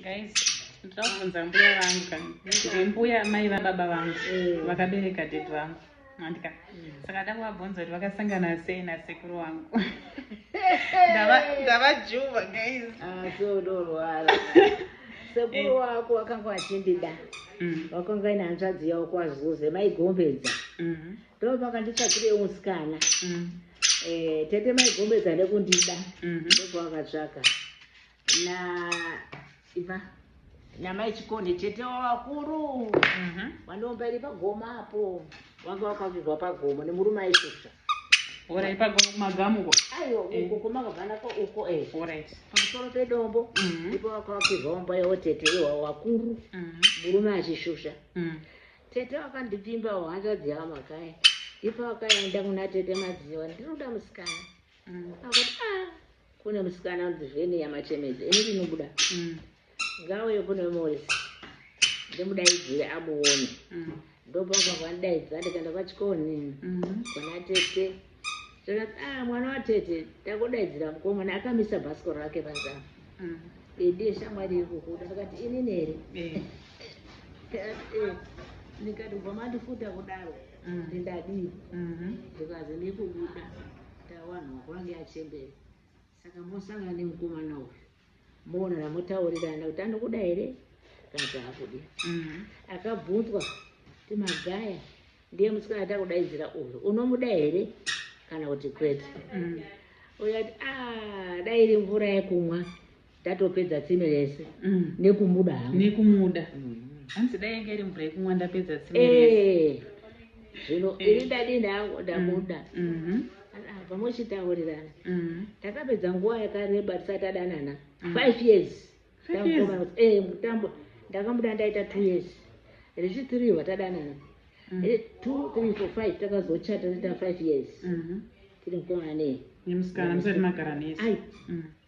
guys ndinoda kubvunza mbuya vangu kani ndiri mbuya mai vababa vangu mm. vakabereka dad vangu andika mm. saka da kuvabvunza kuti vakasangana sei nasekuru wangu ndavajuva guys ah, so ndorwara sekuru eh. wako wakanga wachindida mm. wakanga ine hanzvadzi yavo kwazuze maigombedza mm-hmm. Ndoo pakanditsvakira musikana. Mm. Eh, tete mai gombedza nekundida. Mm -hmm. Ndipo akatsvaka. Na iva namai chikone tete wavakuru mhm. vandiomba iri pagoma apo vanga vakavigwa pagoma nemurume aisvusva orit pagoma kumagamuko aiwa eh. uko kumakavanako uko eh. orit pamusoro pedombo mhm. ipo vakavakirwa omba yavo tete iwa vakuru mhm. murume achishusha Tete vakandipimba hanzvadzi yavo makaya ipa vakaenda kuna tete madziva ndinoda musikana mm. akuti a ah, kune musikana unzi vheni yamachemedzi ini ndinobuda mm. ngauye kune morisi ndimudaidzire amuone mm. ndopakwa kwandaidza ndikaenda kwachikoni mm-hmm. kuna tete zvikati ah mwana watete tangodaidzira mukomana akamisa bhasikoro rake panze apa mm. eh, ndiye shamwari iri kukuda ndikati inini here eh. eh, ndikati ubva mandifuta kudaro mm. kuti ndadii mm-hmm. ndikazi ndikubuda tawanhu wako ange achembera Saka mosangana nemukomana uyu moonana motaurirana kuti anokuda here kana kuti haakudi. Mm. Akabvunzwa kuti Magaya ndiye musikana atiri kudaidzira uyu unomuda here kana kuti kwete. Mm. Uyu ati ah, dai iri mvura yekumwa tatopedza tsime rese mm. nekumuda hangu nekumuda mm. hanzi dai yanga iri mvura yekumwa ndapedza tsime rese eh, zvino eh. ini ndadini hangu ndamuda mm-hmm. apa mochitaurirana mm. takapedza nguva yakareba tisati tadanana mm. five years eh, mutambwa ndakamuda ndaita two years rechitiriwa tadanana mm. eh, two three four five takazochata taita five years mm-hmm. tiri mukomana nei nemusikana musati magara nese